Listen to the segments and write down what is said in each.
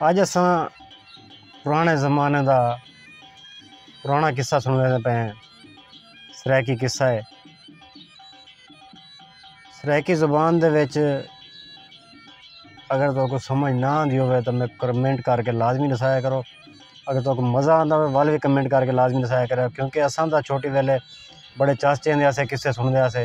اج اساں پرانے زمانے دا پرانا قصہ سنڑے دے پئے ہیں سرائیکی قصہ ہے سرائیکی زبان دے وچ اگر تو کو سمجھ نہ آندی ہوئے تو میں کمنٹ کر کے لازمی دسایا کرو اگر تو کو مزہ آندا ہوئے ول بھی کمنٹ کر کے لازمی دسایا کرو کیونکہ اساں دا چھوٹی ویلے بڑے چاچے ہوندے اسے قصے سنڑدے اسے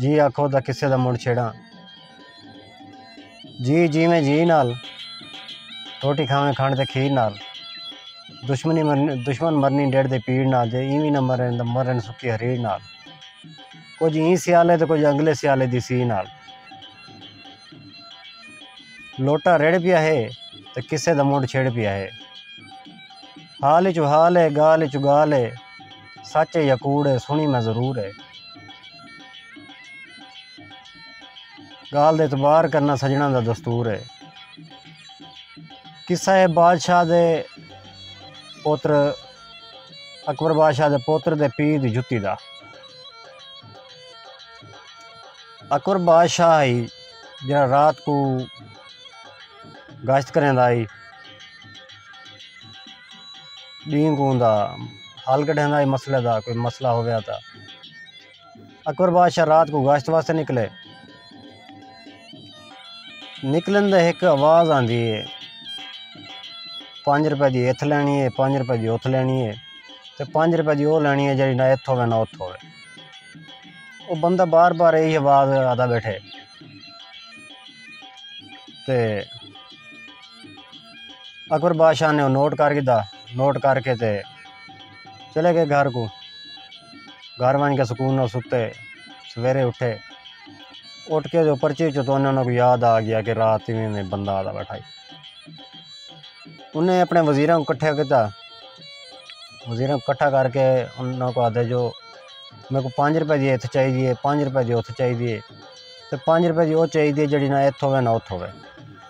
جی آکھو تاں قصے دا مڑ چھیڑاں جی جیویں جی نال روٹی کھاویں کھنڈ تے کھیر نال دشمنی مرنی دشمن مرنی ڈیڑھ دے پیڑ نال جے ایویں نہ مرن تاں مرن سکی ہریڑ نال کچھ ایں سیالے تے کچھ اگلے سیالے دی سی نال لوٹا رڑ پیا ہے تے قصے دا مڑ چھیڑ پیا ہے حال چ حال ہے گال چ گال ہے سچ ہے یا کوڑ ہے سنڑی میں ضرور ہے گالھ دا اعتبار کرنا سجنڑاں دا دستور ہے قصہ ہے بادشاہ دے پوتر اکبر بادشاہ دے پوتر دے پی دی جتی دا اکبر بادشاہ ہی جڑا رات کو گشت کریں دا ہی ݙینہہ کوں دا حل کڈھیندا اے مسئلے دا کوئی مسئلہ ہویا تاں اکبر بادشاہ رات کو گشت واسطے نکلے نکلن دے ہک آواز آندی ہے پانچ روپے دی اتھ لینی ہے پانچ روپے دی اتھ لینی ہے تے پانچ روپے دی او لینی ہے جڑی نہ اتھ ہوے نہ اتھ ہوے او بندہ بار بار یہی آواز آدا بیٹھے تے اکبر بادشاہ نے او نوٹ کر گھدا نوٹ کر کے تے چلے گئے گھر کو گھر ونج کے سکون نال ستے سویرے اٹھے اٹھ کے جو پرچی وچوں تو انہاں کو یاد آ گیا کہ رات ایویں میں بندہ آدا بیٹھائی انہیں اپنے وزیراں کو کٹھا کیتا وزیراں کو کٹھا کر کے انہاں کو آدھے جو میرے کو پانچ روپے دی اتھ چاہی دیے پانچ روپے دی اتھ چاہی دیے تے پانچ روپے دی او چاہی دیے جڑی نہ اتھ ہوے نہ اتھ ہوے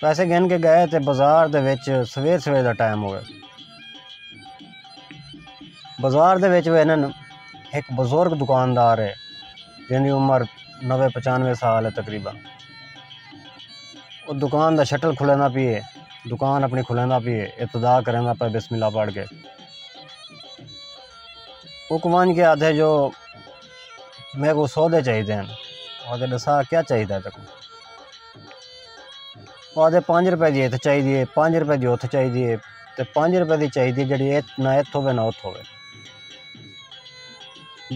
پیسے گھن کے گئے تے بازار دے وچ سویر سویر دا ٹائم ہوئے بازار دے وچ وہ انہوں ایک بزرگ دکاندار ہے جن دی عمر نوے پچانوے سال ہے تقریبا وہ دکان دا شٹل کھلینا پیے دکان اپنی کھلینا پیے ابتدا کرنا پہ بسم اللہ پڑھ کے وہ کمان کے آدھے جو میرے کو سودے چاہیے دین آدھے دسا کیا چاہیے تکو آدھے پنج روپے دی ہتھ چاہیدی ہے پنج روپے دی اتھ چاہیدی ہے تے پنج روپے دی چاہیدی ہے جیڑھی نہ اتھ ہووے نہ اتھ ہووے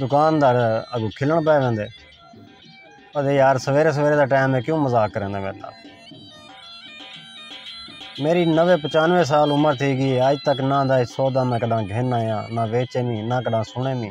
دکاندار اگوں کھلݨ پئے ویندے آدھے یار سویرے سویرے دا ٹائم ہے کیوں مذاق کریندے میرے نال میری نوے پچانوے سال عمر تھی گئی اج تک نہ دا سودا میں کݙاں گھن آیاں نہ ویچے می نہ کݙاں سݨے می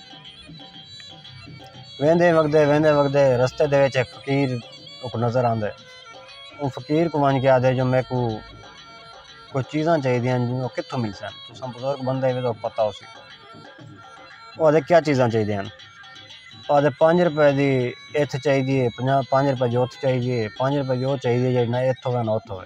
ویندے وڳدے ویندے وڳدے رستے دے وچ ہک فقیر اوکوں نظر آندے او فقیر کوں ونڄ کے آکھدے جو میکوں کچھ چیزاں چاہیدیاں ہن او کتھوں ملسن تساں بزرگ بندے وی تہاکوں پتہ ہوسی او آکھدے کیا چیزاں چاہیدیاں ہن او آکھدے پنج روپے دی ایتھ چاہیدی ہے پنج روپے دی اوتھ چاہیدی ہے پنج روپے دی او چاہیدی ہے جیڑھی نہ ایتھ ہووے نہ اوتھ ہووے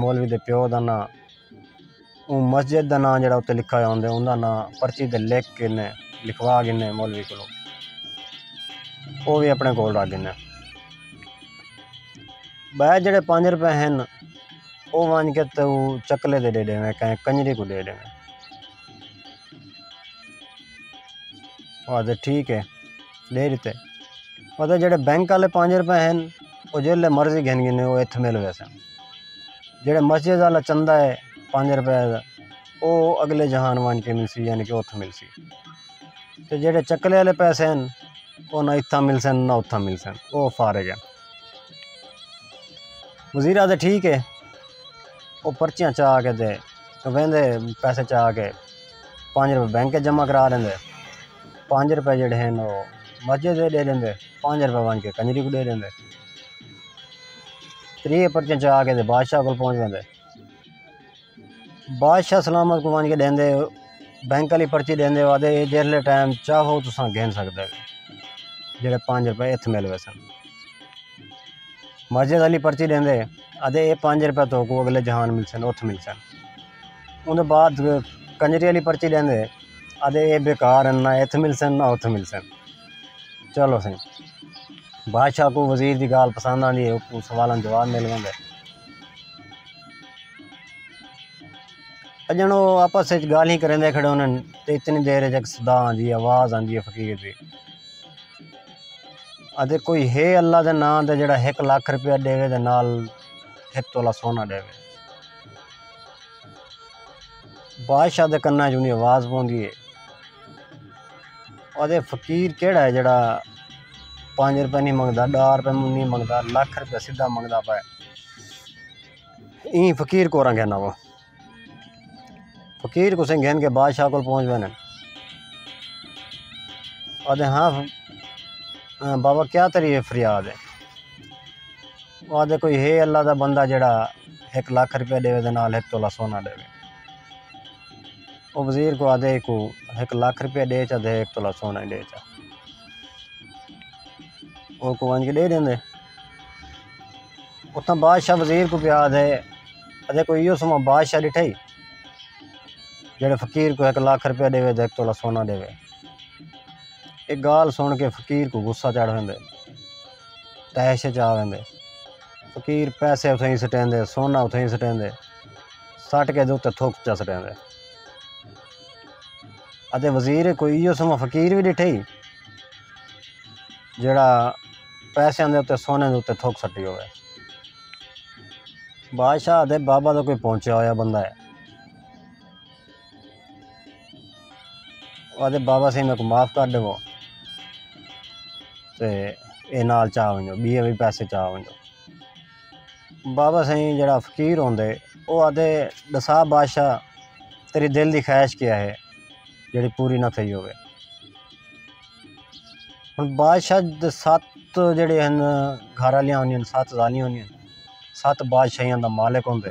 مولوی دے پیو دا ناں اوں مسجد دا ناں جڑا اتے لکھا ہویا ہوندے اوندا ناں پرچی تے لکھ کے نے لکھوا گھنے مولوی کولو او وی اپنے کول رکھ گھنے بے جڑے پانچ روپے ہن او ونج کے تو چکلے دے ڈے ڈیویں کہیں کنجری کو ڈے ڈیویں او آدھے ٹھیک ہے ݙے ݙتے پتہ جیڑھے بینک والے پنج روپے ہن او جیڑھے مرضی گھن گھنے او ہتھ مل ویسن جیڑھے مسجد والا چندہ ہے پنج روپے دا او اگلے جہان ونج کے ملسی یعنی کہ اتھ ملسی تے جیڑھے چکلے والے پیسے ہن او نہ اتھاں ملسن نہ اتھاں ملسن او فارغ ہن وزیر آدھے ٹھیک ہے او پرچیاں چا کے دے ویندے پیسے چا کے پنج روپے بینک جمع کرا لیندے پنج روپے جیڑھے ہن او مسجد دے ݙے ݙیندے پنج روپے ونج کے کنجری کوں ݙے ݙیندے تریہہ پرچیاں چا کے تے بادشاہ کول پہنچ ویندے بادشاہ سلامت کوں ونج کے ݙیندے بینک آلی پرچی ݙیندے او آہدے جیڑھے ٹائم چاہو تساں گھن سکدے جیڑھے پنج روپے اتھ مل ویسن مسجد آلی پرچی ݙیندے آہدے اے پنج روپے تہاکوں اگلے جہان ملسن اتھ ملسن اوندے بعد کنجری آلی پرچی ݙیندے آہدے اے بیکار ہن نہ ہتھ ملسن نہ ہتھ ملسن چلو سئیں بادشاہ کوں وزیر دی ڳالھ پسند آندی ہے اوکوں سوالاں دا جواب مل ویندے اڄݨ او آپس وچ ڳالھیں کریندے کھڑے ہوندن تے اتنی دیر وچ ہک صدا آندی ہے آواز آندی ہے فقیر دی آہدے کوئی ہے اللہ دے ناں تے جیڑھا ہک لکھ روپیہ ݙیوے تے نال ہک تولہ سونا ݙیوے بادشاہ دے کناں وچ اونی آواز پوندی ہے آدھے فقیر کیڑا ہے جڑا پانچ روپے نہیں منگدا ڈا روپے نہیں منگدا لکھ روپے سیدھا منگدا پائے این فقیر کو رنگ ہے نا وہ فقیر کو سنگ گھن کے بادشاہ کو پہنچ بنے آدھے ہاں بابا کیا تری فریاد ہے آدھے کوئی ہے اللہ دا بندہ جڑا ہک لکھ روپیہ ݙیوے دے نال ہک تولہ سونا ݙیوے او وزیر کوں آہدے ہکوں ہک لکھ روپیہ ݙے چا تے ہک تولہ سونا ݙے چا او کوں ونج کے ݙے ݙیندے اتھاں بادشاہ وزیر کوں پیا آہدے آہدے کوئی ایہو سما بادشاہ ݙٹھا ہی جیڑھے فقیر کوں ہک لکھ روپیہ ݙیوے تے ہک تولہ سونا ݙیوے ایہ ڳالھ سݨ کے فقیر کوں غصہ چڑھ ویندے تحش اچ آ ویندے فقیر پیسے اتھئیں سٹیندے سونا اتھئیں سٹیندے سٹ کے دے تھک چا سٹیندے اتے وزیر کوئی ایو سما فقیر بھی ڈٹھے ہی جڑا پیسے دے اتنے سونے دے اتنے تھک سٹی ہوئے بادشاہ دے بابا تو کوئی پہنچیا ہویا بندہ ہے آدھے بابا سائیں میرے کو معاف کر دے وہ تے اے نال چاہ ونجو بی اے بھی پیسے چاہ ونجو بابا سائیں جڑا فقیر ہوندے او آدھے دسا بادشاہ تیری دل دی خواہش کیا ہے جڑی پوری نہ تھئی ہوئے ہن بادشاہ دے سات جڑے ہیں گھر والیاں ہوندیاں سات زالیاں ہوندیاں سات بادشاہیاں دا مالک ہوندے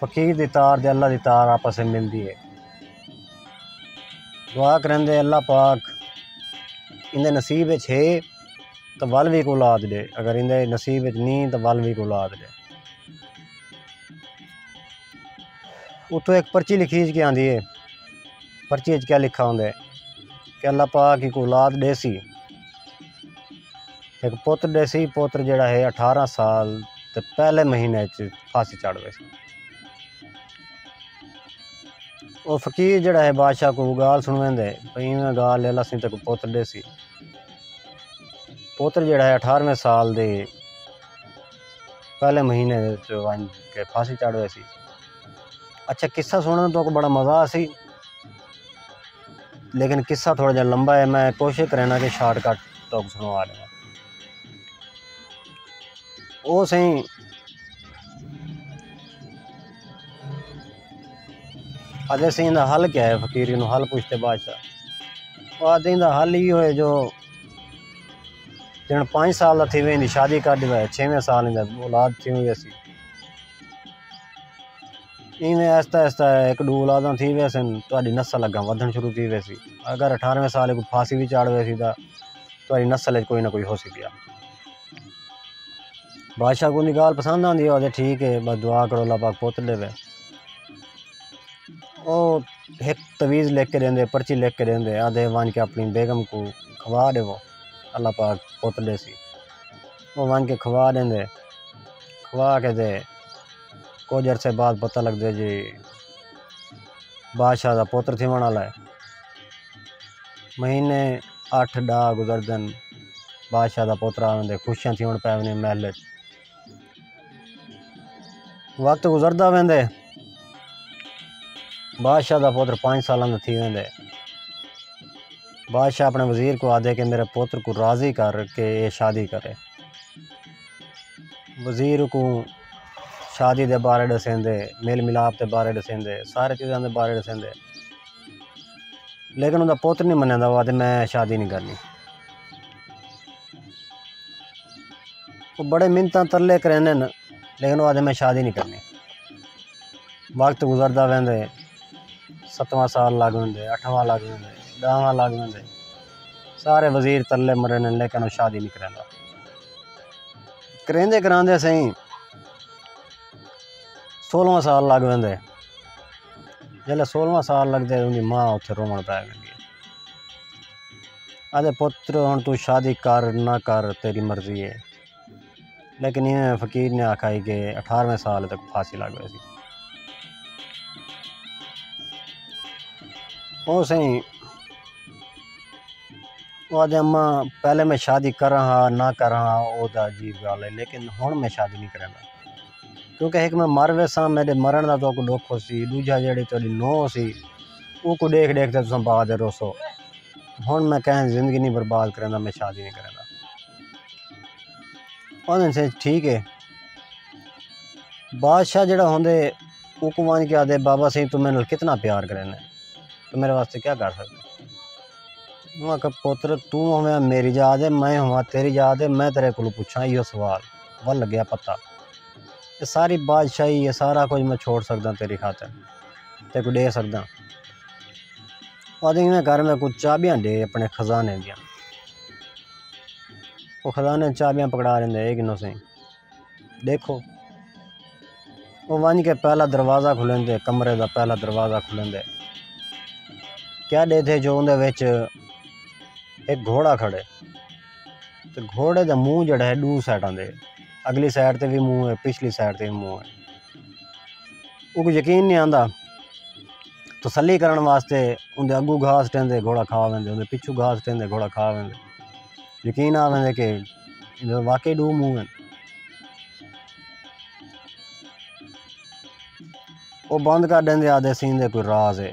فقیر دی تار تے اللہ دی تار آپس وچ ملدی ہے دعا کریندے اللہ پاک ایندے نصیب وچ ہے تاں ول وی کوں اولاد ݙے اگر ایندے نصیب وچ نی تاں ول وی کوں اولاد ݙے اتھو ہک پرچی لکھی ہج کے آندی ہے پرچی ہج کے لکھا ہوندے کہ اللہ پاک ہی کوں اولاد ݙیسی ہک پتر ݙیسی پتر جیڑھا ہے اٹھارہ سال تے پہلے مہینے اچ پھانسی چڑھ ویسی او فقیر جیڑھا ہے بادشاہ کو گال سنویندے بھئی ایویں گال لے لاسیں تے کو پتر ݙیسی پتر جیڑھا ہے اٹھارویں سال دے پہلے مہینے ونج کے پھانسی چڑھ ویسی اچھا قصہ سنن تو بڑا مزہ آسی لیکن قصہ تھوڑا جا لمبا ہے میں کوشش کرینا کہ شارٹ کٹ تو سنو آ لیا او سہی آدھے سہی دا حل کیا ہے فقیری نو حل پوچھتے بادشاہ او آدھے دا حل ہی ہوئے جو جن پانچ سال دا تھی وے شادی کر دی وے چھویں سال دا اولاد تھی ہوئی سی ایویں آہستہ آہستہ ہک ݙو اولاداں تھی ویسن تہاݙی نسل اڳاں ودھݨ شروع تھی ویسی اگر اٹھارویں سال کوں پھانسی وی چاڑھ ویسی تاں تہاݙی نسل اچ کوئی نہ کوئی ہوسی ٻیا بادشاہ کوں اوندی ڳالھ پسند آندی ہو آکھدے ٹھیک ہے ٻس دعا کرو اللہ پاک پتر ݙیوے او ہک تویز لکھ کے ݙیندے پرچی لکھ کے ݙیندے آکھدے ونڄ کے اپݨی بیگم کوں کھوا ݙیو اللہ پاک پتر ݙیسی او ونج کے کھوا ڈیندے کھوا کے تے کجھ عرصے بعد پتہ لگدے جی بادشاہ دا پتر تھیون والا ہے مہینے اٹھ ڈا گزردن بادشاہ دا پتر آوندے خوشیاں تھیون پے وندی محل اچ۔ وقت گزردا ویندے بادشاہ دا پوتر پانچ سالاں دا تھی ویندے بادشاہ اپنے وزیر کو آدھے کہ میرے پوتر کو راضی کر کے یہ شادی کرے وزیر کو شادی دے بارے ڈسیندے میل ملاپ دے بارے ڈسیندے سارے چیزاں دے بارے ڈسیندے لیکن انہوں دا پوتر نہیں منہ دا وہ آدھے میں شادی نہیں کرنی او بڑے منتاں ترلے کریندے ہن لیکن او آہدے میں شادی نی کرنی وقت گزردا ویندے ستواں سال لگ ویندے اٹھواں لگ ویندے ڈاہواں لگ ویندے سارے وزیر ترلے مریندے ہن لیکن او شادی نی کریندا کریندے کراندے سئیں سولہواں سال لگ ویندے جلے سولہواں سال لگدے اوندی ماں اوتھے روون پے ویندی آہدے پتر ہݨ توں شادی کر نہ کر تیݙی مرضی اے لیکن ایویں فقیر نے آکھا ہئی کہ اٹھارویں سال تک پھانسی لڳ ویسی۔ او سئیں او آہدے اماں پہلے میں شادی کراں ہا نہ کراں ہا او تاں عجیب ڳالھ اے لیکن ہݨ میں شادی نی کریندا کیونکہ ہک میں مر ویساں میݙے مرݨ دا تہاکوں ݙکھ ہوسی ݙوجھا جیہڑی تہاݙی نو ہوسی اوکوں ݙیکھ ݙیکھ تے تساں بعد ءچ روسو ہݨ میں کہیں دی زندگی نی برباد کریندا میں شادی نی کریندا آہدن سئیں ٹھیک ہے بادشاہ جیہڑا ہوندے اوکوں ونڄ کے آہدے بابا سئیں توں میݙے نال کتنا پیار کریندے توں میݙے واسطے کیا کر سڳدے اوں آکھیا پتر توں ہوویاں میݙی ذات تے میں ہوواں تیݙی ذات تے میں تیݙے کولوں پچھاں ایہو سوال ول لڳیا پتہ اے ساری بادشاہی اے سارا کجھ میں چھوڑ سڳداں تیݙی خاطر تیکوں ݙے سڳداں او آہدے ایویں کر میکوں چاٻیاں ݙے آپݨے خزانے دیاں او خزانے دیاں چاٻیاں پکڑا ݙیندے اے گھنو سئیں ݙیکھو او ونڄ کے پہلا دروازہ کھولیندے کمرے دا پہلا دروازہ کھولیندے کیا ݙیدھے جو اوندے وچ ہک گھوڑا کھڑے تے گھوڑے دا منہ جیڑھا ہے ݙو سائیڈاں دے اڳلی سائیڈ تے وی منہ ہے پچھلی سائیڈ تے وی منہ ہے اوکوں یقین نی آندا تسلی کرݨ واسطے اوندے اڳو گھاس ݙیندے گھوڑا کھا ویندے اوندے پچھو گھاس ݙیندے گھوڑا کھا ویندے یقین آ ویندے کہ واقعی ݙو منہ ہن او بند کر ݙیندے آکھدے ایں دے کوئی راز ہے۔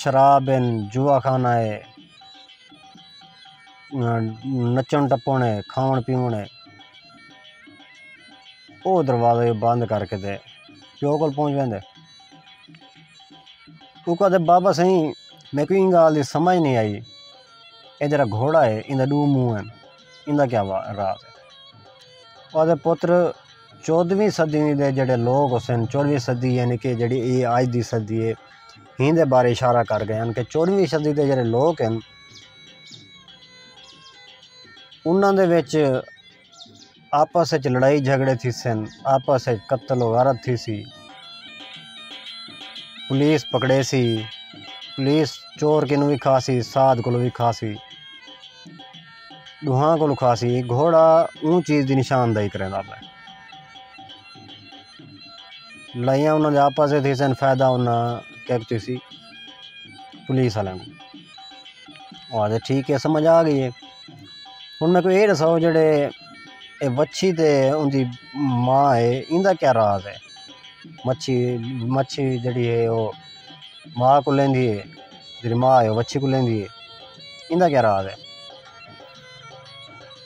شراب ہن جوا خانہ ہے نچݨ ٹپݨ ہے کھاوݨ پیوݨ ہے او دروازہ جو بند کر کے تے پیو کول پہنچ ویندے او کہدے بابا سئیں میکوں ایں ڳالھ دی سمجھ نئیں آئی اے جیڑھا گھوڑا ہے ایندا ݙو منہ ہن ایندا کیا راز ہے او آہدے پتر چودھویں صدی دے جیڑھے لوگ ہوسن چودھویں صدی یعنی کہ جیڑھی اے اج دی صدی ہے ہین دے بارے اشارہ کر گئے ہن کہ چودھویں صدی دے جیڑھے لوگ ہن انہاں دے وچ آپس وچ لڑائی جھگڑے تھی سن آپس وچ قتل و غارت تھی سی پولیس پکڑے سی پولیس چور کنوں بھی کھا سی ساد کولوں بھی کھا سی ݙوہاں کولوں خاص اے گھوڑا اوں چیز دی نشاندہی کریندا پئے لڑائیاں انہاں دے آپس اچ تھیسن فائدہ انہاں کیک تھیسی پولیس آلیاں کوں او آکھدے ٹھیک اے سمجھ آ گئی اے ہن میکوں اے ݙساؤ جیڑھے اے وچھی تے اوندی ماء اے ایندا کیا راز اے مچھی مچھی جیڑھی اے او ماء کوں لیندی اے جیڑھی ماء ہے او بچے کوں لیندی ہے ایندا کیا راز ہے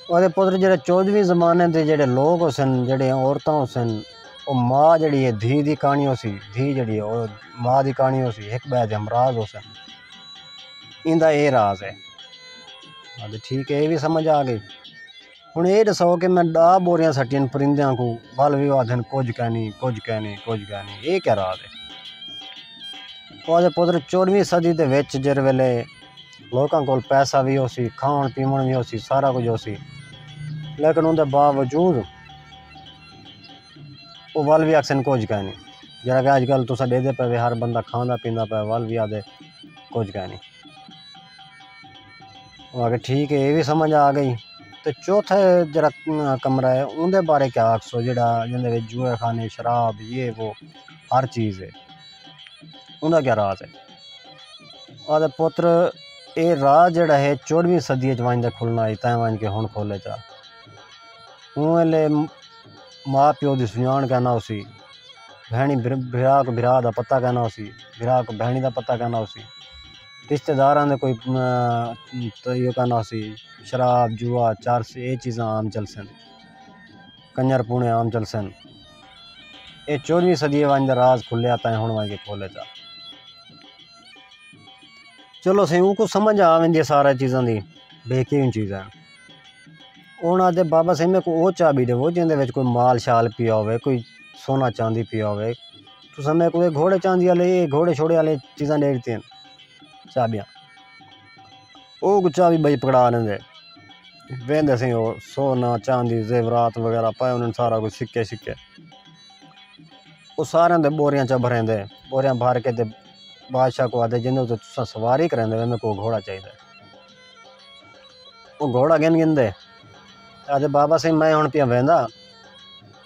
او آکھدے پتر جیڑھے چودھویں زمانے دے جیڑھے لوگ ہوسن جیڑھے عورتاں ہوسن او ماء جیڑھی ہے دھی دی کہانی ہوسی دھی جیڑھی ہے او ماء دی کہانی ہوسی ہک ٻئے دے ہمراز ہوسن ایندا اے راز ہے ٹھیک ہے اے وی سمجھ آ گئی ہݨ ایہ ݙساؤ کہ میں ݙاہ ٻوریاں سٹیاں ہن پرندیاں کوں ول وی او آکھدن کجھ کینی کجھ کینی کجھ کینی ایہ کیا راز ہے او آکھدے پتر چوݙہویں صدی دے وچ جیݙے ویلے لوکاں کول پیسہ وی ہوسی کھاوݨ پیوݨ وی ہوسی سارا کجھ ہوسی لیکن اوندے باوجود او ول وی آکھسن کجھ کینی جیڑھا کہ اڄ کل تساں ݙیہدے پئے وے ہر بندہ کھاندا پیندا پئے ول وی آکھدے کجھ کینی اوہ آکھے ٹھیک ہے ایہ وی سمجھ آ گئی تے چوتھا جیڑا کمرہ ہے اوندے بارے کیا آکھسو جیڑا جیندے وچ جوئے خانے شراب یہ وہ ہر چیز ہے اوندا کیا راز ہے آدھے پتر اے راز جیڑا ہے چوڑویں صدی اچ ونج دے کھلنا ہی تاں ونج کے ہن کھولے جا اوں ویلے ماں پیو دی سجان کہنا ہوسی بھینی بھرا کو بھرا دا پتہ کہنا ہوسی بھرا کو بھینی دا پتہ کہنا ہوسی رشتہ داراں دے کوئی طریقہ کانہ ہوسی شراب جوا چرس اے چیزاں عام چلسن کنجر پونے عام چلسن اے چوہدری صدی ونج دا راز کھلیا تاں ہن ونج کے کھولے دا چلو سائیں اوں کو سمجھ آ ویندی سارے چیزاں دی بے کے اوں چیزاں ہن آتے بابا سائیں میں کو او چابی دے وو جیندے وچ کوئی مال شال پیا ہوے کوئی سونا چاندی پیا ہوے تساں میکوں اے گھوڑے چاندی آلے اے گھوڑے شوڑے آلے چیزاں ݙے ݙتیاں چابیاں او کوں چابی بھائی پکڑا لیندے ویندے سئیں او سونا چاندی زیورات وغیرہ پئے ہوندن سارا کچھ سکے شکے او ساریاں دے بوریاں چا بھریندے بوریاں بھر کے تے بادشاہ کوں آہدے جیندے تے تساں سواری کریندے ویندے میکوں گھوڑا چاہیدا ہے او گھوڑا گھن گھن دے آہدے بابا سئیں میں ہݨ پیاں ویندا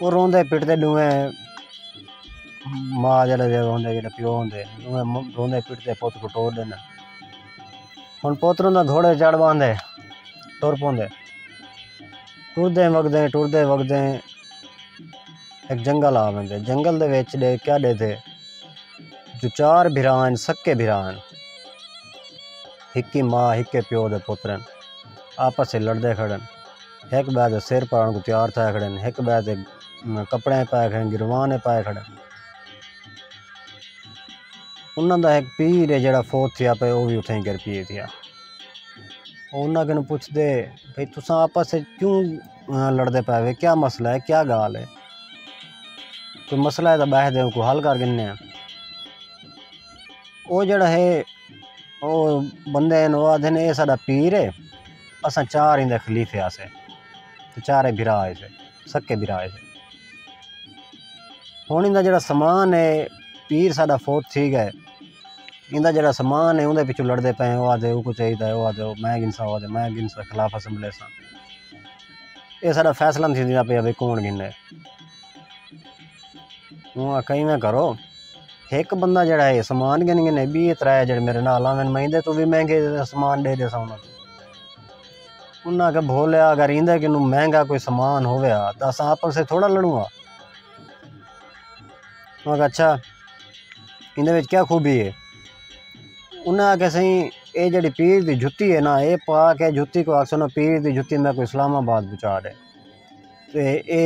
او روندے پٹدے ݙوویں ماء جیڑھے جیڑھے ہوندے جیڑھے پیو ہوندے ݙوویں روندے پٹدے پت کوں ٹور ݙیندن ہن پت روندا گھوڑے تے چڑھ ٻہندے ٹر پوندے ٹردیں وڳدیں ٹردیں وڳدیں ہک جنگل آ ویندے جنگل دے وچ ݙے کیا ݙیدھے جو چار بھرا ہن سکے بھرا ہن ہکی ماء ہکے پیو دے پتر ہن آپس ء لڑدے کھڑن ہک ٻئے دے سر پاڑݨ کوں تیار تھئے کھڑن ہک ٻئے دے کپڑے پائے کھڑن گروان پائے کھڑن انہاں دا ہک پیر ہے جیڑھا فوت تھیا پئے او وی اتھائیں گر پیے تھیا او انہاں کنوں پچھ دے بھئی تساں آپس وچ کیوں لڑدے پئے وے کیا مسئلہ ہے کیا ڳالھ ہے کوئی مسئلہ ہے تاں ٻہہ دے کوئی حل کر گھننے آں او جیڑھا ہے او بندے ہیں او آدھے نے اے ساڈا پیر ہے اساں چار ایندے خلیفے ہاسے تے چارے بھرا ہیسے سکے بھرا ہیسے ہن ایندا جیڑھا سامان ہے پیر ساڈا فوت تھی گئے ایندا جیڑھا سامان ہے اوندے پچھوں لڑدے پئے او آدھے اوکو چاہیدا او آدھے میں گھنسا او آدھے میں گھنسا خلاف اسمبلی اساں اے ساڈا فیصلہ تھیندا پیا وی کون گھنے۔ ہوں آکھا ایویں کرو ہک بندہ جیڑھا ہے سامان گھن گھن ہے بیہ ترے جیڑھے میرے نال آون میں ایندے توں وی مہنگے سامان ݙے ݙیساں انہاں کوں انہاں آکھیا بھولیا اگر ایندے کنوں مہنگا کوئی سامان ہووے ہا تاں اساں آپس سے تھوڑا لڑوں ہاں میں آکھا اچھا ایندے وچ کیا خوبی ہے انہاں آکھیا سائیں اے جیڑھی پیر دی جتی ہے نا اے پا کے جتی کوں آکھسوں نا پیر دی جتی میں کوئی اسلام آباد پہنچا ݙے تے اے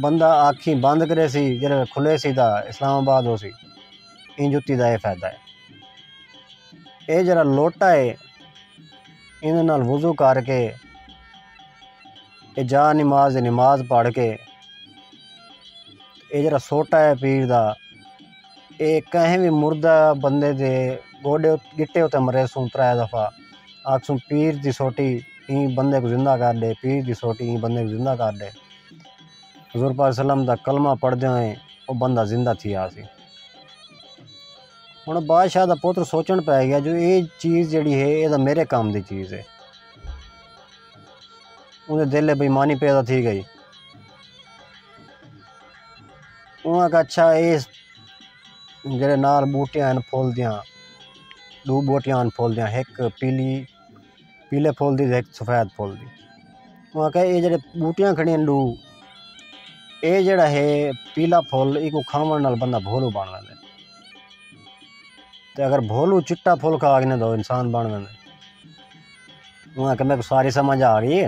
بندہ آکھیں بند کریسی جیڑھے ویلے کھلے سی تاں اسلام آباد ہوسی ایں جتی دا اے فائدہ اے اے جیڑھا لوٹا اے ایندے نال وضو کر کے اے جا نماز دی نماز پڑھ کے اے جیڑھا سوٹا اے پیر دا اے کہیں وی مردہ بندے دے گوڈے گٹے اتے مریسوں ترے دفعہ آکھسوں پیر دی سوٹی ایں بندے کوں زندہ کر ݙے پیر دی سوٹی ایں بندے کوں زندہ کر ݙے حضور پاک وسلم دا کلمہ پڑھدے ہوئیں او بندہ زندہ تھی آسی ہن بادشاہ دا پتر سوچن پے گیا جو اے چیز جڑی ہے اے دا میرے کام دی چیز ہے انہیں دل بےمانی پیدا تھی گئی اوں آکھیا اچھا اے جیڑھے نال بوٹیاں ہن پھل دیاں ݙو بوٹیاں ہن پھل دیاں ہک پیلی پیلے پھل دی تے ہک سفید پھل دی اوں آکھیا اے جیڑھے بوٹیاں کھڑیاں ہن ݙو اے جیڑھا ہے پیلا پھل اینکوں کھاوݨ نال بندہ بھولو بݨ ویندے تے اگر بھولو چٹا پھل کھا گھنے تاں او انسان بݨ ویندے اوں آکھیا میکوں ساری سمجھ آ ڳئی ہے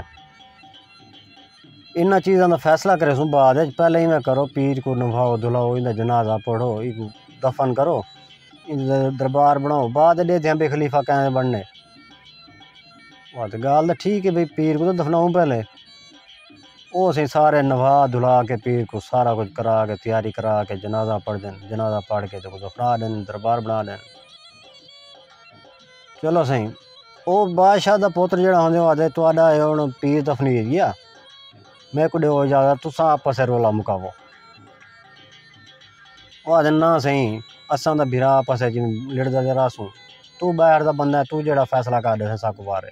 انہاں چیزاں دا فیصلہ کریسوں بعد اچ پہلے ایویں کرو پیر کو نبھاؤ دھلاؤ ایندا جنازہ پڑھو اینکوں دفن کرو ایندا دربار بناؤ بعد اچ ڈیکھدے آں بھئی خلیفہ کئیں دا بنڑنے واہ تے گالھ تاں ٹھیک ہے بھئی پیر کوں تاں دفناؤں پہلے او اسیں سارے نبھا دھلا کے پیر کوں سارا کچھ کرا کے تیاری کرا کے جنازہ پڑھ دین جنازہ پڑھ کے تے کوں دفنا دین دربار بنا دین چلو سائیں او بادشاہ دا پوتر جڑا ہوندے او آدھے تہاڈا اے ہن پیر دفنی ہے گیا میں کو ڈیو اجازت تساں آپس رولا مکاو او آدھے نہ سائیں اساں دا بھرا آپس وچ لڑدا تے رہسوں تو باہر دا بندہ ہے تو جڑا فیصلہ کر ڈیساں ساکوں وارے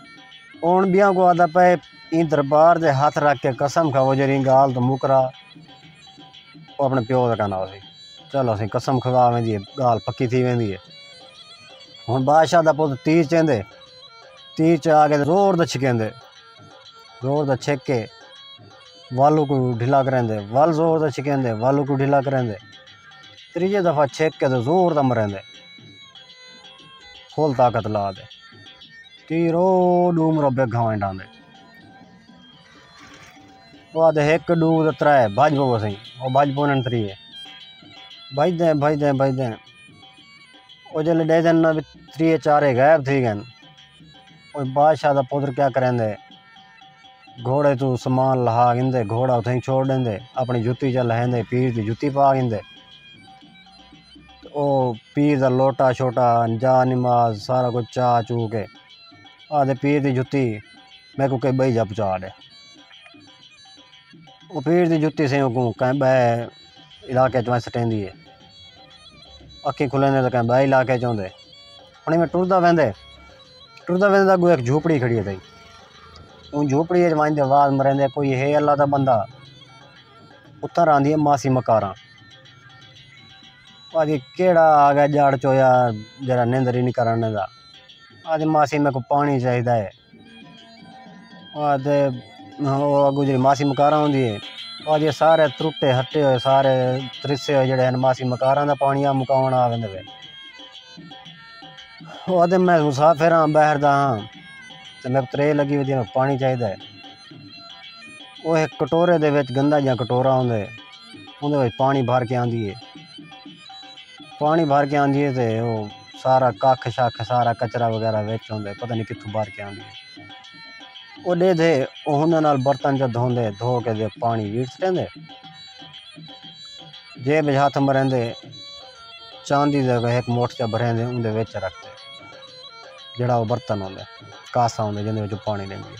اوݨ ٻیاں کوں آہدا پئے ایں دربار دے ہتھ رکھ کے قسم کھاؤ جیڑھی ایں گالھ توں مکرا او اپݨے پیو دا کن آسی چلو اسیں قسم کھوا ویندی ہے گالھ پکی تھی ویندی ہے ہن بادشاہ دا پتر تیر چیندے تیر چا کے زور دا چھکیندے زور دا چھک کے والو کو ڈھلا کریندے ول زور دا چھکیندے والو کو ڈھلا کریندے تریجے دفعہ چھک کے زور دا مریندے فل طاقت لا دے تیر او ݙو مربع گھاویں ݙاہندے او آہدے ہک ݙو تے ترے بھڄ پو اسیں او بھڄ پوندن تریہے بھڄدیں بھڄدیں بھڄدیں او جیلے ݙیکھدن نا وی تریہے چارے غائب تھی ڳن او بادشاہ دا پتر کیا کریندے گھوڑے توں سامان لہا گھندے گھوڑا اتھئیں چھوڑ ݙیندے اپݨی جتی چا لہیندے پیر دی جتی پا گھندے او پیر دا لوٹا شوٹا جا نماز سارا کچھ چا چو کے آدھے پیر دی جتی میکو کہیں بئی جا پچا ڈے او پیر دی جتی سیں اگوں کہیں بئے علاقے چوں سٹیندی ہے اکھیں کھلیندے تو کہیں بئے علاقے چوں دے ہن میں ٹردا ویندے ٹردا ویندے تو اگوں ایک جھوپڑی کھڑی ہے تھی اون جھوپڑی وچ وائندے آواز مریندے کوئی ہے اللہ دا بندہ اتھاں راندی ہے ماسی مکاراں آہدی کیہڑا آ گیا جاڑ چویا جیہڑا نندر ہی نی کرن ڈیندا آہدی ماسی میکوں پاݨی چاہیدا ہے آہدے او اگوں جیہڑی ماسی مکاراں ہوندی ہے آہدی سارے ترٹے ہٹے ہوئے سارے ترسے ہوئے جیہڑے ہن ماسی مکاراں دا پاݨی آ مکاوݨ آ ویندے وے آہدے میں مسافر ہاں ٻاہر دا ہاں تے میکوں ترے لڳی ودی میکوں پاݨی چاہیدا ہے او ہک کٹورے دے وچ گندا جیہا کٹورا ہوندا ہے اوندے وچ پاݨی بھر کے آندی ہے پاݨی بھر کے آندی ہے تے او سارا ککھ شکھ سارا کچرا وغیرہ وچ ہوندے پتہ نی کتھوں بھر کے آندی ہے او ݙے دے او ہوندے نال برتن جو دھوندے دھو کے تے پاݨی ویڑھ سٹیندے جیب وچ ہتھ مریندے چاندی دا ہک موٹھ جا بھریندے اوندے وچ رکھ تے جیڑھا او برتن ہوندے کاسا ہوندے جیندے وچ او پاݨی ݙیندی ہے۔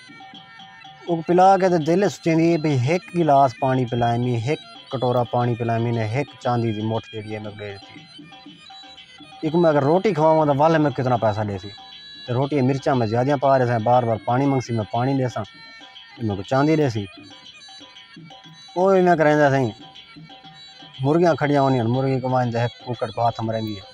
اوکوں پلا کے تے دل اچ سوچیندی ہے بھئی ہک گلاس پاݨی پلائیمی ہک کٹورا پاݨی پلائیمی نے ہک چاندی دی مٹھ جیڑھی ہے میکوں ݙے ݙتی ایکوں میں اگر روٹی کھواواں تاں ول میکوں کتنا پیسہ ݙیسی تے روٹی اچ مرچاں میں زیادہ پا ریساں بار بار پاݨی منگسی میں پاݨی ݙیساں تے میکوں چاندی ݙیسی او ایویں کریندا سئیں مرغیاں کھڑیاں ہوندیاں ہن مرغی کوں وہندے ہک ککڑ پاتھ مریندی ہے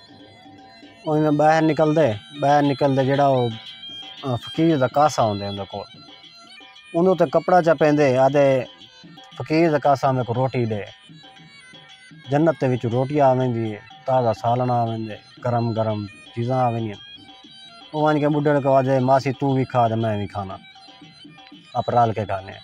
اوہندے ٻاہر نکلدے ٻاہر نکلدے جیڑھا او فقیر دا کاسہ ہوندے اوندے کول اوندے تے کپڑا چا پیندے آہدے فقیر دا کاسہ میکوں روٹی ݙے جنت دے وچوں روٹی آ ویندی ہے تازہ سالݨاں آ ویندے گرم گرم چیزاں آ ویندیاں او ونڄ کے ٻڈھے کوں آہدے ماسی توں وی کھا تے میں وی کھانا آپ رل کے کھانے آں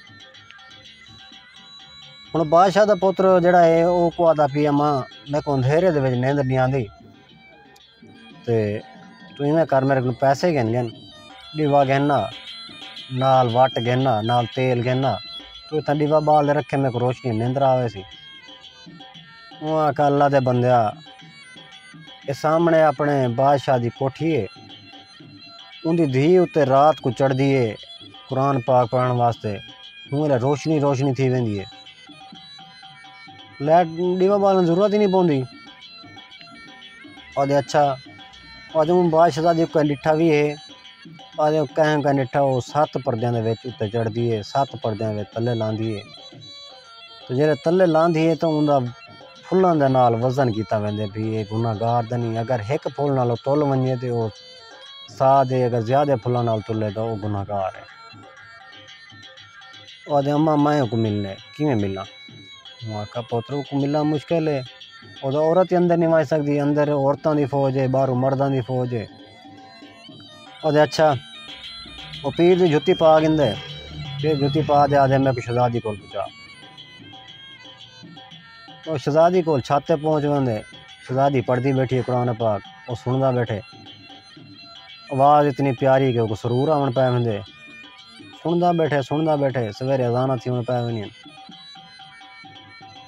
ہݨ بادشاہ دا پتر جیڑھا ہے او اوکوں آہدا پی اما میکوں اندھیرے دے وچ نیندر نی آندی تے تو ایویں کر میرے کولوں پیسے گھن ڳن ݙیوا گھن آ نال وٹ گھن آ نال تیل گھن آ تو اتھاں ݙیوا ٻال تے رکھیں میکوں روشنی نیندر آ ویسی اوں آکھیا اللہ دے بندیا اے سامݨے آپݨے بادشاہ دی کوٹھی ہے اوندی دھی اتے رات کوں چڑھدی ہے قرآن پاک پڑھن واسطے ہوں الے روشنی روشنی تھی ویندی ہے لائٹ ڈیوا بالن ضرورت ہی نہیں پوندی آدھے اچھا آدھے ہوں بادشاہ دی کوئی لٹھا بھی ہے آدھے کہیں کا لٹھا وہ سات پردیاں دے وچ اتے چڑھدی ہے سات پردیاں دے تلے لاندی ہے تو جیرے تلے لاندی ہے تو اوندا پھلاں دے نال وزن کیتا ویندے بھئی اے گناہ گار تاں نی اگر ہک پھل نال تل ونجے تے او ساہ دے اگر زیادہ پھلاں نال تلے تاں او گناہ گار ہے او آکھدے اماں میں اوکوں ملنے کیویں ملاں میں آکھا پتر اوکوں ملنا مشکل ہے او تاں عورت ہی اندر نی ونج سڳدی اندر عورتاں دی فوج ہے ٻاہروں مرداں دی فوج ہے آدھے اچھا وہ پیر دی جتی پا گندے پیر جتی پا دے آدھے میں کو شہزادی کول پچا وہ شہزادی کول چھاتے پہنچ وندے شہزادی پڑھتی بیٹھی قرآن پاک وہ سندا بیٹھے آواز اتنی پیاری کہ وہ سرور آن پائے وندے سندا بیٹھے سندا بیٹھے سویرے اذانہ تھی ہوں پائے ونی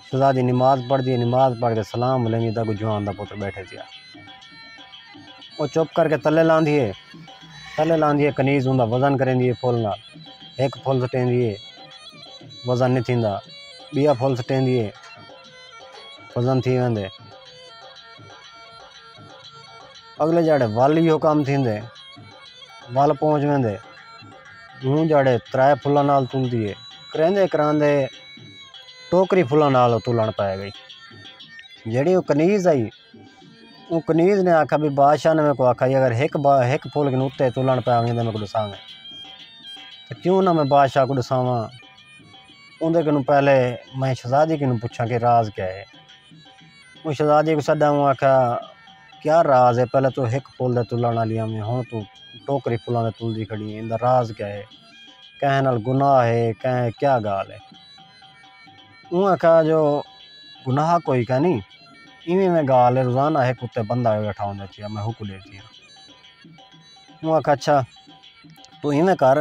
شہزادی نماز پڑھ دی نماز پڑھ کے سلام لینی دا کو جوان دا پتر بیٹھے تھیا او چپ کر کے تلے لاندی ہے تلے لاندی ہے کنیز اوندا وزن کریندی ہے پھل نال ہک پھل سٹیندی ہے وزن نہیں تھیندا ٻیا پھل سٹیندی ہے وزن تھی ویندے اگلے جاڑے ول ایہو کم تھیندے ول پہنچ ویندے ہوں جاڑے ترائے پھلاں نال تلدی ہے کریندے کراندے ٹوکری پھلاں نال او تلن پائے گئی جیڑی او کنیز آئی اوں کنیز نے آکھا بھئی بادشاہ نے میکوں آکھا سی اگر ہک بار ہک پھول کن اتے تلن پیا ویں تاں میکوں ڈساویں تاں کیوں نہ میں بادشاہ کوں ڈساواں اوندے کنوں پہلے میں شہزادی کنوں پچھاں کہ راز کیا ہے اوں شہزادی کوں سڈا اوں آکھا کیا راز ہے پہلے تو ہک پھول دے تلن والی ہویں ہن تو ٹوکری پھولاں دے تلدی کھڑی ہیں ایندا راز کیا ہے کہیں نال گناہ ہے کہیں کیا گال ہے اوں آکھیا جو گناہ کوئی کائنی ایویں ایویں گالھ اے روزانہ ہک اتے بندہ آوے ٻیٹھا ہوندا چیا میں ہوکوں ݙیکھدی ہاں اوں آکھیا اچھا توں ایویں کر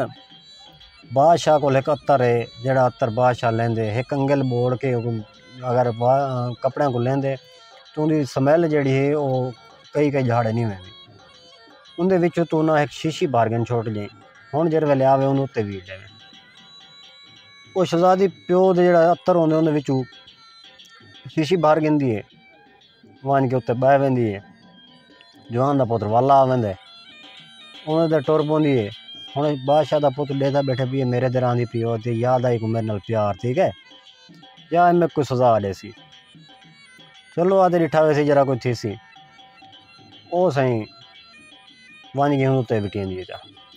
بادشاہ کول ہک عطر اے جیڑھا عطر بادشاہ لیندے ہک انگل ٻوڑ کے اوکوں اگر کپڑیاں کوں لیندے تاں اوندی سمیل جیڑھی اے او کئی کئی جھاڑے نی ویندی اوندے وچوں توں نہ ہک شیشی بھر گھن چھوٹ ڄئیں ہن جیݙے ویلے آوے اوں اتے ویہہ ڄئیں او شہزادی پیو دے جیڑھا عطر ہوندے اوندے وچوں شیشی بھر گھندی ہے ونج کے اتے بہہ ویندی ہے جوان دا پتر والا آ ویندے اوندے تے ٹر پوندی ہے ہن بادشاہ دا پتر ڈیکھدا بیٹھے پی اے میرے تے راندی پی او تے یاد آئی کو میرے نال پیار ٹھیک ہے یا اے میکو سزا ڈیسی چلو آتے ڈٹھا ویسی جرا کوئی تھیسی او سائیں ونج کے اتے بٹیندی ہے جا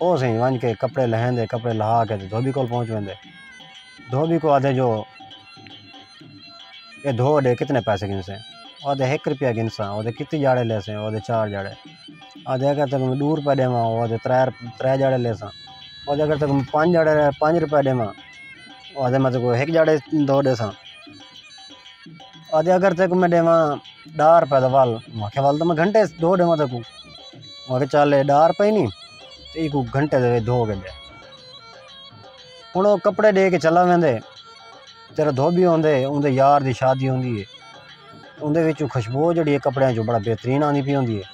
او سئیں ونج کے کپڑے لہیندے کپڑے لہا کے تے دھوبی کول پہنچ ویندے دھوبی کو آدھے جو اے دھو ڈے کتنے پیسے گھنسے او آدھے ہک روپیہ گھنساں او آدھے کتنی جاڑے لیسیں او آدھے چار جاڑے آدھے اگر تیکوں میں ڈو روپیہ ڈیواں او آدھے ترے ترے جاڑے لیساں او آدھے اگر تیکوں میں پنج جاڑے پنج روپیہ ڈیواں او آدھے میں تیکوں ہک جاڑے دھو ڈیساں آدھے اگر تیکو میں ڈیواں ڈاہ روپے دا ول میں آکھیا ول تاں میں گھنٹے دو ڈیواں تیکو میں آکھیا چل اے ڈاہ روپے نی تے ایکو گھنٹے دے وچ دھو کے ڈے ہن او کپڑے ڈے کے چلا ویندے تیرا دھوبی ہوندے اوندے یار دی شادی ہوندی اے اوندے وچوں خوشبو جیڑھی اے کپڑے چوں بڑا بہترین آندی پئی ہوندی اے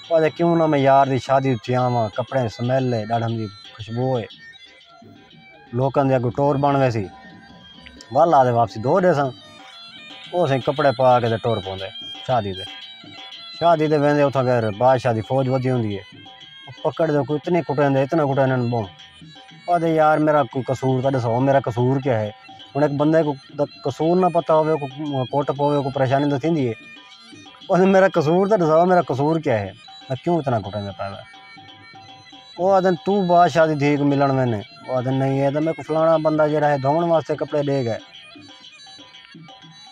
او آکھدے کیوں نہ میں یار دی شادی اچ تھی آواں کپڑے سمیل اے ڈاڈھم دی خوشبو اے لوکاں دے اگوں ٹور بݨ ویسی ول آ تے واپسی دو ݙیساں او سئیں کپڑے پا کے تے ٹور پوندے شادی تے شادی تے ویندے اتھاں پھر بادشاہ دی فوج ودھی ہوندی ہے پکڑ دے کوئی اتنی کٹیندے اتنا کٹیندے ٻہوں آہدے یار میرا کوئی قصور تاں ݙسو میرا قصور کیا ہے ہݨ ہک بندے کوں قصور نہ پتہ ہووے کوئی کٹ پووے کوئی پریشانی تاں تھیندی ہے آہدے میرا قصور تاں ݙسو میرا قصور کیا ہے میں کیوں اتنا کٹیندے پئے وے او آدن توں بادشاہ دی دھی کوں ملن وینے او آدن نہیں ہے تے میکوں فلانا بندہ جیڑا ہے دھوون واسطے کپڑے ڈے گئے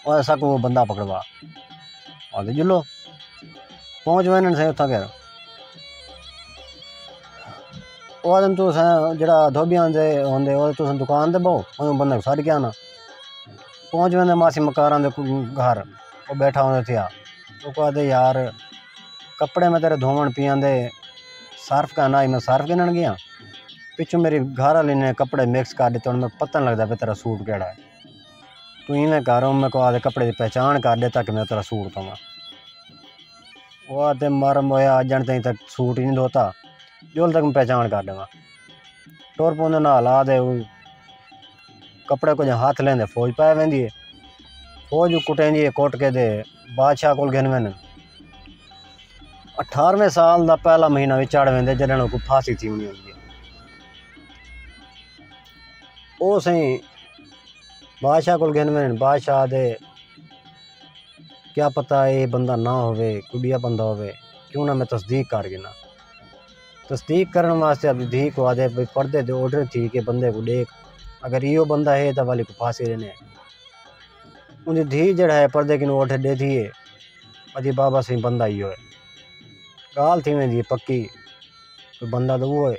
او اسا کوں او بندہ پکڑوا آدے جلو پہنچ وینے سے اتھاں گئے او آدن تو سا جیڑا دھوبی آندے ہوندے او تو سن دکان تے بہو او بندہ ساڈ کے آنا پہنچ وینے ماسی مکاراں دے گھر او بیٹھا ہوندے تھیا اوکوں آہدے یار کپڑے میں تیرے دھووݨ پیاں دے صرف کائے نہ آئی میں صرف گھنݨ گیاں پچھوں میری گھر والی نے کپڑے مکس کر ݙتے ہݨ میکوں پتہ نہ لڳدا پئے تیرا سوٹ کیڑھا ہے توں ایویں کر ہݨ میکوں آہدے کپڑے دی پہچاݨ کر ݙے تاکہ میں تیرا سوٹ دھواں او آہدے مر موئے اڄ ڄݨ تئیں تک سوٹ ای نی دھوتا ڄل تک میں پہچاݨ کر ݙیواں ٹر پوندے نال آہدے کپڑے کوں جاں ہتھ لیندے فوج پائے ویندی ہے فوج کوں کٹیندی ہے کٹ کے تے بادشاہ کول گھن ویندن اٹھارویں سال دا پہلا مہینہ وی چڑھ ویندے جڈن کو پھاسی تھی ہونی ہوندی ہے او سائیں بادشاہ کول گھن ویندن بادشاہ دے کیا پتہ اے بندہ نہ ہوے کڈیا بندہ ہوے کیوں نہ میں تصدیق کر گھنا تصدیق کرݨ واسطے آپݙی دھی کوں آہدے بھئی پردے تے اوڈھر تھی کے بندے کوں ݙیکھ اگر ایہو بندہ ہے تاں والی کوں پھانسی ݙیندے ہیں۔ اوندی دھی جیہڑا ہے پردے کنوں اوڈھر ݙیندی ہے آہدی بابا سئیں بندہ ایہو ہے۔ ڳالھ تھی ویندی ہے پکی بندہ تاں اوہو ہے۔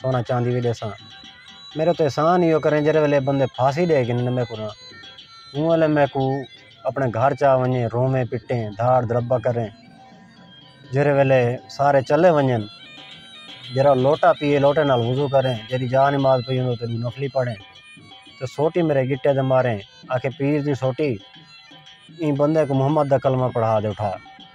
سونا چاندی وی ݙیساں میݙے تے احسان ایہو کریں جیݙے ویلے بندے پھانسی ݙے گھنن میݙے کولوں اوں ویلے میکوں اپݨے گھر چا ونڄے رووے پٹے دھاڑ دھڑپا کریں جیݙے ویلے سارے چلے ونڄن جیݙا لوٹا پیئے لوٹے نال وضو کریں جیݙی جا نماز پئی ہوں تیݙی نفلی پڑھیں تے سوٹی میݙے گٹے تے ماریں آکھیں پیر دی سوٹی ایں بندے کوں محمد دا کلمہ پڑھا ݙے اٹھا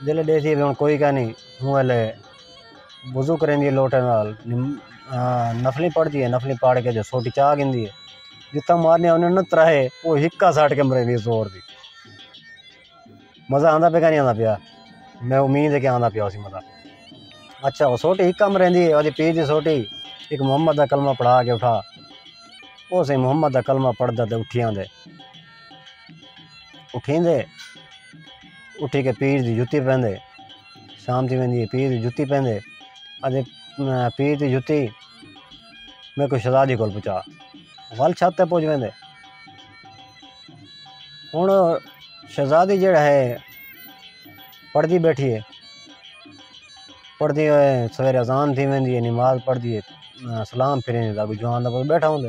جلے ڈیسی وی ہن کوئی کائنی اوں ویلے وضو کریندی ہے لوٹے نال نفلی پڑھدی ہے نفلی پڑھ کے جو سوٹی چا گھندی ہے جتھاں مارنی ہوندی انہاں ترے او ہکا سٹ کے مریندی ہے زور دی مزہ آندا پیا کہ نی آندا پیا میں امید ہے کہ آندا پیا ہوسی مزہ اچھا او سوٹی ہکا مریندی ہے اودی پیر دی سوٹی ایک محمد دا کلمہ پڑھا کے اٹھا او سی محمد دا کلمہ پڑھدا تے اٹھی آندے اٹھیندے اٹھی کے پیر دی جتی پہندے شام تھی ویندی ہے پیر دی جتی پہندے آہدے پیر دی جتی میکوں شہزادی کول پہنچا ول چھت تے پہنچ ویندے ہن شہزادی جیڑا ہے پڑھدی بیٹھی ہے پڑھدی ہوئے سویرے اذان تھی ویندی ہے نماز پڑھدی ہے سلام پھریں اگوں جوان دا پتر بیٹھا ہوندے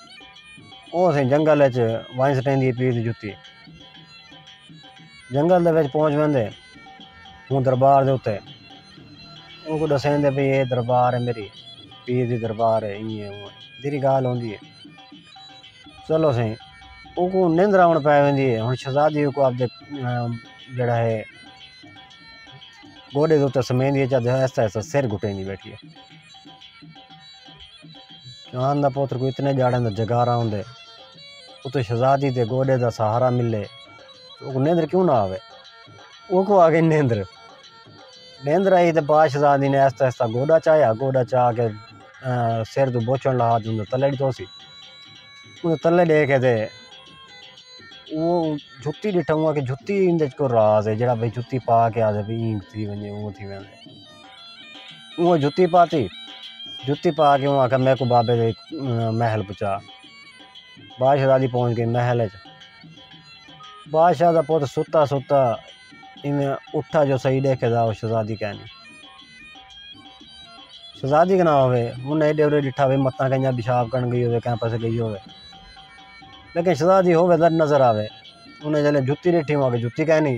او اسیں جنگل اچ وائن سٹین دی اپیل جتی جنگل دے وچ پہنچ ویندے ہوں دربار دے اتے ان کو ڈسین دے بھئی اے دربار ہے میری پیر دی دربار ہے ایں ہے اوں ہے دیری گال ہوندی ہے چلو سائیں ان کو نند راون پے ویندی ہے ہن شہزادی ان کو آپ دے جڑا ہے گوڈے دے اتے سمین دی چا دے ایسا ایسا سر گھٹین دی بیٹھی ہے چوہان دا پتر کوں اتنے جاڑیں دا جگارا ہوندے اتے شہزادی دے گوڈے دا سہارا ملے اوکوں نیندر کیوں نہ آوے اوکوں آگے نیندر نیندر آئی تے با شہزادی نے ایستا ایستا گوڈا چاہیا گوڈا چاہ کے سر تو بوچن لہا جن تلے ڈتو سی انہیں تلے دے کے دے وہ جھتی ڈٹھا ہوا کہ جھتی اندے کو راز ہے جڑا بھئی جھتی پا کے آدھے بھی اینگ تھی ونجے اون تھی ونجے اوہ جتی پاتی جتی پا کے اوہ آکھا میکو بابے دے محل پچا بادشاہ دادی پہنچ گئی محل اچ بادشاہ دا پوت ستا ستا ایویں اٹھا جو صحیح دیکھے دا شہزادی کہنی شہزادی کنا ہوئے انہیں ایڈے اوڈے ڈٹھا ہوئے متاں کہیں پیشاب کرن گئی ہوئے کہیں پاسے گئی ہوئے لیکن شہزادی ہوئے در نظر آوے انہیں جلے جتی ڈٹھی ہوں آگے جتی کہنی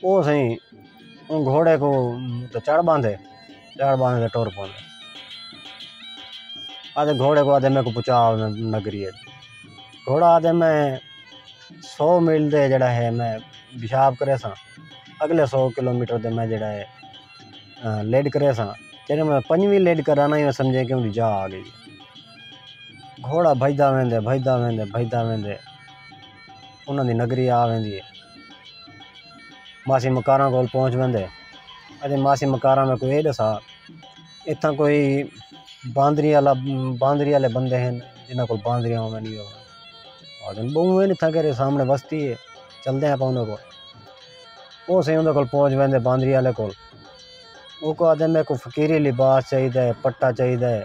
او سئیں اوں گھوڑے کوں تے چڑ ٻاندھے چڑ ٻاندھ تے ٹر پوندے آہدے گھوڑے کوں آہدے میکوں پہنچا نگری اچ گھوڑا آہدے میں سو میل دے جیڑا ہے میں پیشاب کرے ساں اگلے سو کلو میٹر دے میں جیڑا ہے لیڈ کرے ساں جیڑے میں پنجویں لیڈ کرا نا ایویں سمجھے کہ جا آ گئی گھوڑا بھجدا ویندے بھجدا ویندے بھجدا ویندے انہاں دی نگری آ ویندی ہے ماسی مکاراں کول پہنچ ویندے اتے ماسی مکاراں میکوں ایہ ݙسا اتھاں کوئی باندری آلا باندری آلے بندے ہن جنہاں کول باندریاں ہوون گیاں آکھن ٻہوں ہن اتھاں کیݙے سامݨے وستی ہے چلدے آپاں انہاں کول او سئیں انہاں کول پہنچ ویندے باندری آلے کول اوکوں آکھدے میکوں فقیری لباس چاہیدا ہے پٹا چاہیدا ہے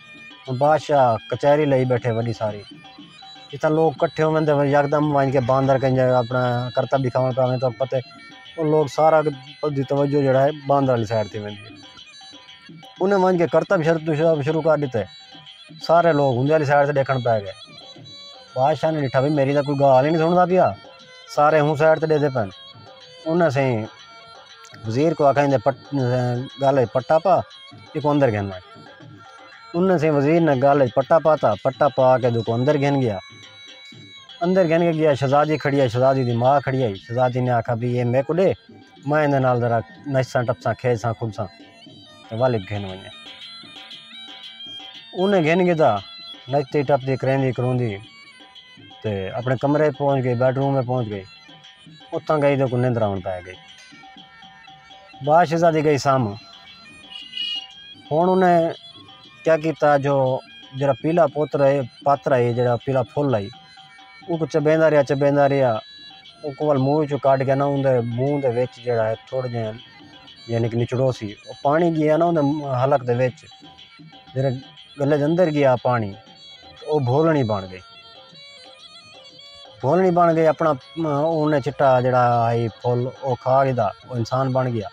بادشاہ کچہری لائی بیٹھے وݙی ساری جتھاں لوک کٹھے ہوون تے یکدم ونڄ کے باندر کہیں جا اپݨا کرتب ݙکھاوݨ پئے ویندے تاں پتے او لوک سارا دی توجہ جیڑھا ہے باندر آلی سائیڈ تے ویندی ہے انہیں ونڄ کے کرتب شروع کر ݙتے سارے لوک اوندے آلی سائیڈ تے ݙیکھݨ پئے ڳئے بادشاہ نے ݙٹھا بھئی میݙی تاں کوئی ڳالھ ہی نی سݨدا پیا سارے ہوں سائڈ تے ڈیدھے پن انہاں سے وزیر کو آکھا اندے پٹ گالہ پٹا پا ایک اندر گھن مائے انہاں سے وزیر نے گالہ پٹا پا تا پٹا پا کے دو کو اندر گھن گیا اندر گھن کے گیا شہزادی کھڑی ہے شہزادی دی ماں کھڑی ہے شہزادی نے آکھا بھی یہ میں کو دے میں اندے نال ذرا نچساں ٹپساں کھیلساں کھلساں تے والد گھن ونجے انہیں گھن گیا نچتی ٹپتی کریندی کروندی تے اپݨے کمرے ءچ پہنچ ڳئی بیڈ روم ءچ پہنچ ڳئی اتھاں ڳئی تے اونکوں نندر آوݨ پئے ڳئی بعد شہزادی ڳئی سم ہݨ انہیں کیا کیتا جو جیڑھا پیلا پتر ہئی پاتر ہئی جیڑھا پیلا پھل ہئی اونکوں چبیندا رہیا چبیندا رہیا اونکوں ول منہ ءچوں کڈھ کے نا اوندے منہ دے وچ جیڑھا ہے تھوڑے جیہے یعنی کہ نچڑوسی او پاݨی ڳیا نا اوندے حلق دے وچ جیڑھے گلے دے اندر ڳیا پاݨی او بھولݨی بݨ ڳئی بھولݨی بݨ ڳئی اپݨا اون چٹا جیڑھا ہئی پھل او کھا گھدا او انسان بݨ ڳیا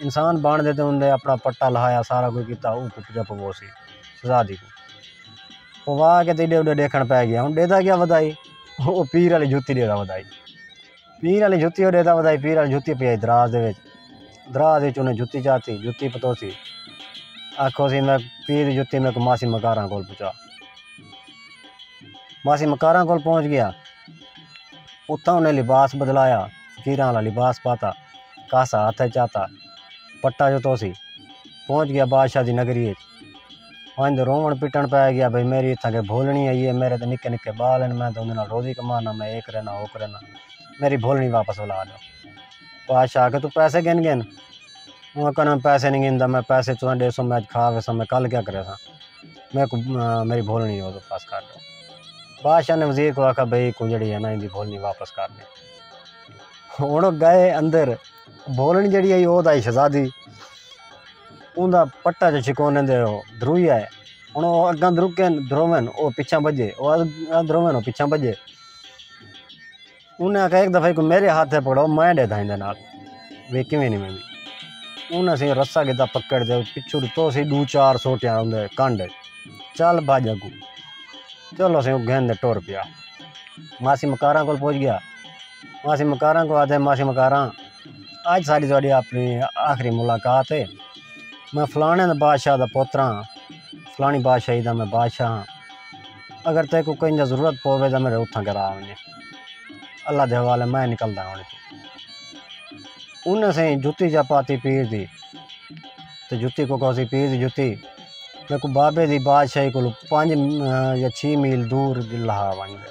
انسان بݨ تے اون نے اپݨا پٹا لہایا سارا کجھ کیتا او کوں پڄا پووسی سزا دی کوں پوا کے تے ایݙے اوݙے ݙیکھݨ پئے ڳیا ہن ݙیہدا کیا ودائی او پیر آلی جوتی ݙیہدا ودائی پیر آلی جتی او ڈیتا ودائی پیر آلی جتی پئی دراز دے وچ دراز وچ انہیں جتی چاتی جتی پتوسی آکھو سی میں پیر دی جتی میں کو ماسی مکاراں کول پچا ماسی مکاراں کول پہنچ گیا اتھا انہیں لباس بدلایا فقیراں والا لباس پاتا کاسا ہاتھ چاتا پٹا جتوسی پہنچ گیا بادشاہ دی نگری وچ ونج روون پٹن پے گیا بھئی میری اتھاں کے بھولنی آئی ہے میرے تے نکے نکے بال ہیں میں تے اوندے نال روزی کمانا میں اے کرینا او کرینا میری بھولنی واپس ولا ݙیو بادشاہ آکھے تو پیسے گن گن اوں آکھن میں پیسے نہیں گندا میں پیسے تساں ݙیسو میں اج کھا ویساں میں کل کیا کریساں میں کو میری بھولنی او واپس کر ݙیو بادشاہ نے وزیر کو آکھا بھئی کو جڑی ہے نا ایندی بھولنی واپس کر ݙے ہن گئے اندر بولن جیڑھی ہئی او دائی شہزادی اون دا پٹا جو شکونے دے او درویا ہے ہن او اگاں درکن دروین او پچھاں بجے او اگاں دروین او پچھاں بجے انہاں ایک دفعہ کو میرے ہاتھ تے پکڑاؤ میں ڈے دھائیں دے نال وی کیویں نہیں میں انہاں سے رسا گدا پکڑ دے پچھو تو سی دو چار سوٹیاں ہوں دے کانڈے چل بھاج اگو چلو سے گھن دے ٹور پیا ماسی مکاراں کول پہنچ گیا ماسی مکاراں کوں آدھے ماسی مکاراں اج ساڈی تہاڈی اپنی آخری ملاقات ہے میں فلانے دا بادشاہ دا پوتر ہاں فلانی بادشاہی دا میں بادشاہ ہاں اگر تے کوئی کہیں ضرورت پوے تو میرے اتھاں کرا ونجے اللہ دے حوالے میں نکلدا ہوں انہیں سے جتی جا پاتی پیر دی تو جتی کو کوسی پیر دی جتی میں کو بابے دی بادشاہی کو پانچ یا چھ میل دور لہا ونجے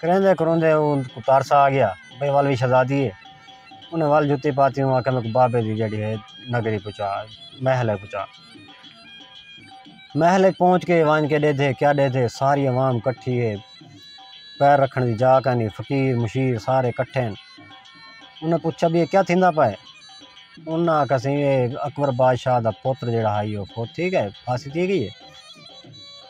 کریندے کروندے اوں کوں ترس آ گیا بھئی ول وی شہزادی ہے انہیں ول جتی پاتی اوں آکھیا میکوں بابے دی جیڑھی ہے نگری پہنچا محل اچ پہنچا محل اچ پہنچ کے ونج کے ݙیدھے کیا ݙیدھے ساری عوام کٹھی ہے پیر رکھݨ دی جا کینی فقیر مشیر سارے کٹھے ہن انہیں پچھا بھئی اے کیا تھیندا پئے انہاں آکھا سی اے اکبر بادشاہ دا پتر جیڑھا ہئی او فوت تھی ڳئے پھانسی تھی ڳئی ہے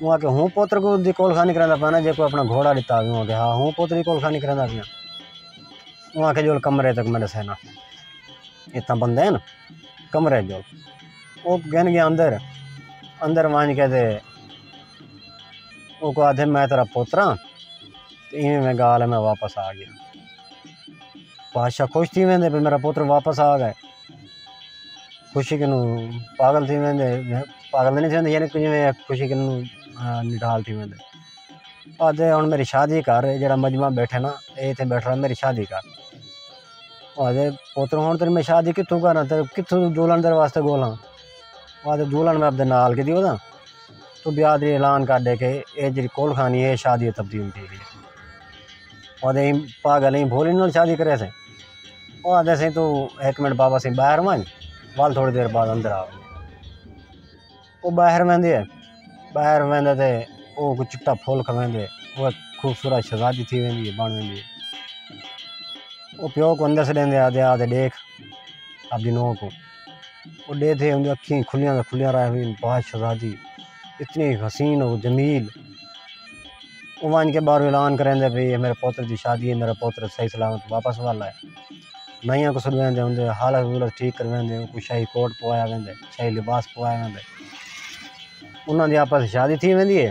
اوں آکھیا ہوں پتر دی کولخانی کریندا پیاں جیکوں اپݨا گھوڑا ݙتا ہا اوں آکھیا ہا ہوں پتر دی کولخانی کریندا پیاں اوں آکھیا ڄول کمرے تک میں ݙسینا اتھاں بندے ہن کمرے ڄول او گھن ڳیا اندر اندر ونڄ کے تے اوکوں آکھدے میں تیݙا پتر ہاں تے ایویں میں ڳالھ ہے میں واپس آ ڳیا بادشاہ خوش تھی ویندے بھئی میݙا پتر واپس آ ڳئے خوشی کنوں پاگل تھی ویندے پاگل تاں نی تھی ویندے یعنی کجھ میں خوشی کنوں نڈال تھی ویندے آ تے ہن میری شادی گھر ہے جیڑھا مجمع بیٹھے نا اے ایتھے بیٹھا میری شادی گھر آ تے پوتر ہن تیری میں شادی کتھوں کراں تے کتھوں دلہن تیرے واسطے گھولاں آ تے دلہن میں اپنے نال کیتی ہودا تو بیاہ دی اعلان کر دے کہ اے جیڑھی کول کھانی اے شادی تبدیل تھی گئی آہدے ایں پاگل ایں بھولی نال شادی کرے سے او آہدے سے توں ہک منٹ بابا سے باہر ونج ول تھوڑی دیر بعد اندر آ او باہر ویندے ہے باہر ویندے تے او کوئی چٹا پھول کھویندے او خوبصورت شہزادی تھی ویندی ہے بن ویندی ہے او پیو کو اندر سڈیندے آہدے آہدے ڈیکھ اپنی نو کو او ݙیدھے اوں دی اکھیں کھلیاں دا کھلیاں رہ وین باز شہزادی اتنی حسین و جمیل او ونڄ کے ٻاہروں اعلان کریندے پئی میرے پوتر دی شادی ہے میرا پوتر صحیح سلامت واپس والا ہے نئیاں کوں سݙویندے ہوندے حالت حولت ٹھیک کرویندے اونکوں شاہی کوٹ پوایا ویندے شاہی لباس پوایا ویندے انہاں دی آپس شادی تھی ویندی ہے